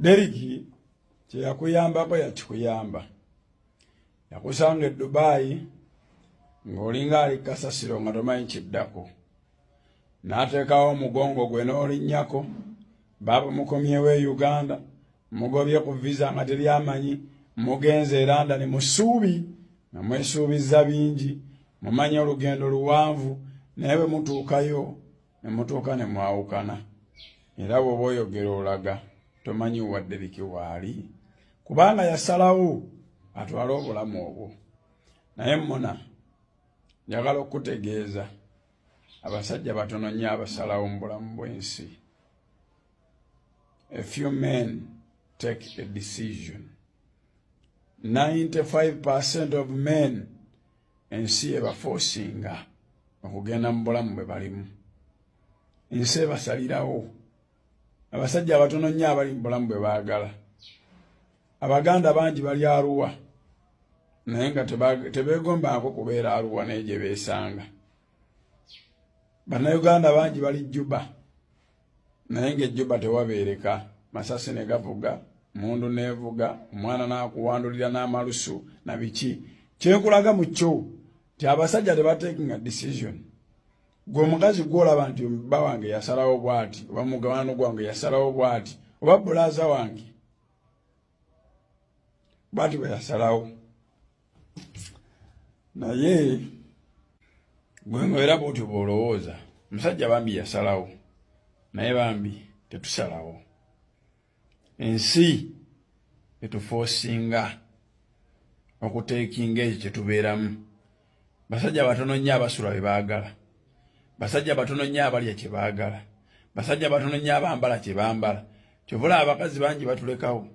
Deriki kyeyakuyambako yakikuyamba yakusanga e Dubai ng'olinga ali kasasiro nga tomanyi kiddako n'ateekawo omugongo gwe n'olinnyako baaba mukomyewo e Uganda mugobye ku visa nga teri amanyi mugenze e London mu ssuubi nga mwesuubizza bingi mumanyi olugendo luwanvu naye bwe mutuukayo ne mutuuka ne mwawukana era bw'oba oyogera olaga tomanyi wadde biki waali kubanga yasalawo atwale obulamu obwo naye muna njagala okukutegeeza abasajja batono nnyo abasalawo mu bulamu bw'ensi a few men take a decision 95 percent of men ensi ebafoosinga okugenda mu bulamu bwe balimu ensi ebasalirawo abasajja abatono nnyo abali mu bulamu bwe baagala abaganda bangi bali aruwa naye nga tebeegombaako kubeera aruwa naye gye beesanga bannayuganda bangi bali juba naye ng'ejjuba tewabeereka masasi ne gavuga mundu nevuga omwana nakuwandulira n'amalusu na biki kyekulaga mu kyo nti abasajja tebatekinga decision gwe omukazi gwolaba nti bba wange yasalawo bwati oba mugabano gwange yasalawo bwati oba bulaza wange bwati bwe yasalawo naye gwemwera bwotyo bwolowooza omusajja bambi yasalawo naye bambi tetusalawo ensi etufoosinga okuteekinga ekyo kyetubeeramu basajja batono nnyo abasula bye baagala basajja batono nnyo abalya kye baagala basajja batono nnyo abambala kye bambala kyovula abakazi bangi batulekawo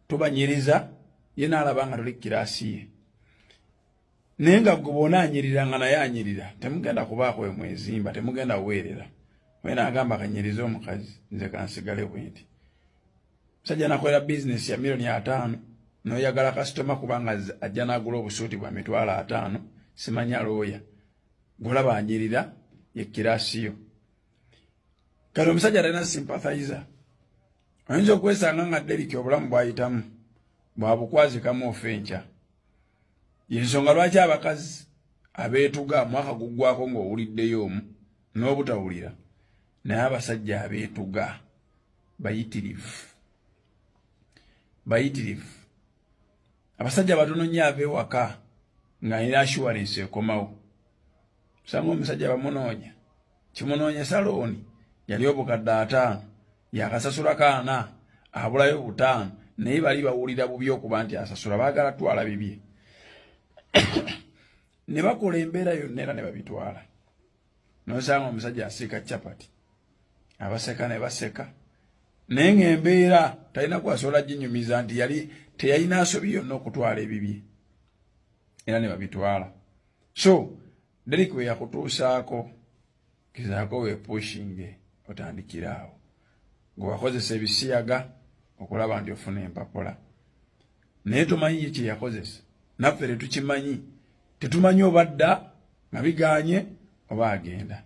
tubanyiriza ye naalaba nga tuli kukiraasi ye naye nga gwe bona anyirira nga naye anyirira temugenda kubaako wemwezimba temugenda kuweerera wena agamba kanyirize omukazi nze kansigale bwenti Musajja nakolera bizinesi ya milioni ataano noyagala kasitoma kubanga ajja nagula obusuuti bwa mitwalo ataano simanya looya golaba anyirira yekirasiyo kati omusajja talina sympathizer oyinza okwesanga nga deriki obulamu bwayitamu bwabukwazikamu ofa enkya yensonga lwaki abakazi abeetuga mwaka guggwako ng'owuliddeyo omu n'obutawulira naye abasajja abeetuga bayitirivu bayitirivu abasajja batono nnyo ava ewaka ng'alina assurance ekomawo osanga omusajja bamunoonya kimunoonya salooni yali obukadde ataano yakasasula kaana abulayo butaano naye bali bawulira bubi okuba nti asasula baagala twala bibye ne bakola embeera yonna era ne babitwala nosanga omusajja asiika chapati abaseka ne baseka naye ng'embeera talina kwasobola ginyumiza nti yali teyalina asobi yonna okutwala ebibye era ne babitwala so derik we yakutuusaako kizaako wepushinge otandikira awo ngawakozesa ebisiyaga okulaba nti ofuna empapula naye tomanyi ye kyeyakozesa naffe tetukimanyi tetumanyi oba dda nga biganye oba agenda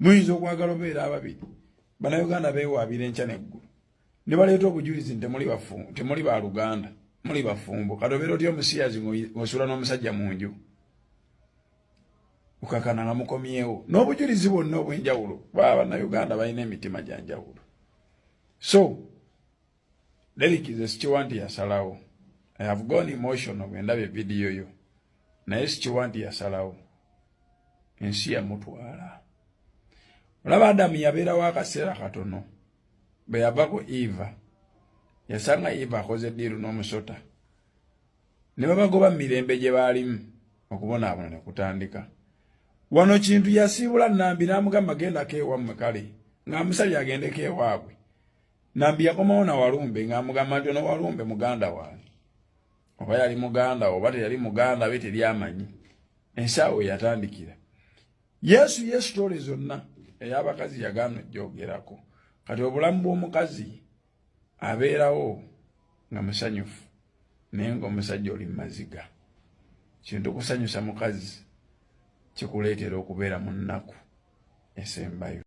muyinza okwagala obeera ababiri banauganda bewaabira enkya neggulu ne baleeta obujulizi nti temuli ba luganda muli bafumbo kati obeera otya omusiyazi ng'osula n'omusajja mu nju okakana nga mukomyewo n'obujulizi bwonna obw'enjawulo baba bannayuganda balina emitima gya njawulo so leliki ze sikiwa nti yasalawo i have gone emotional bwendabye vidiyo yo naye sikiwa nti yasalawo ensi yamutwala olaba adamu yabeerawo akaseera katono bwe yavako eva yasanga eva akoze diiru n'omusota ne babagoba mirembe gye baalimu okubonaabona ne kutandika wano kintu yasiibula nambi n'amugamba gendako ewammwe kale ng'amusabye agendeko ewaabwe nambi yakomawo na walumbe ng'amugamba nti ono walumbe muganda wange oba yali muganda oba teyali muganda be teri amanyi ensaawo yatandikira yesu yesu tole zonna ey'abakazi yagaana ojjoogerako kati obulamu bw'omukazi abeerawo nga musanyufu naye ngaomusajja oli mumaziga kintu okusanyusa mukazi kikuleetera okubeera mu nnaku esembayo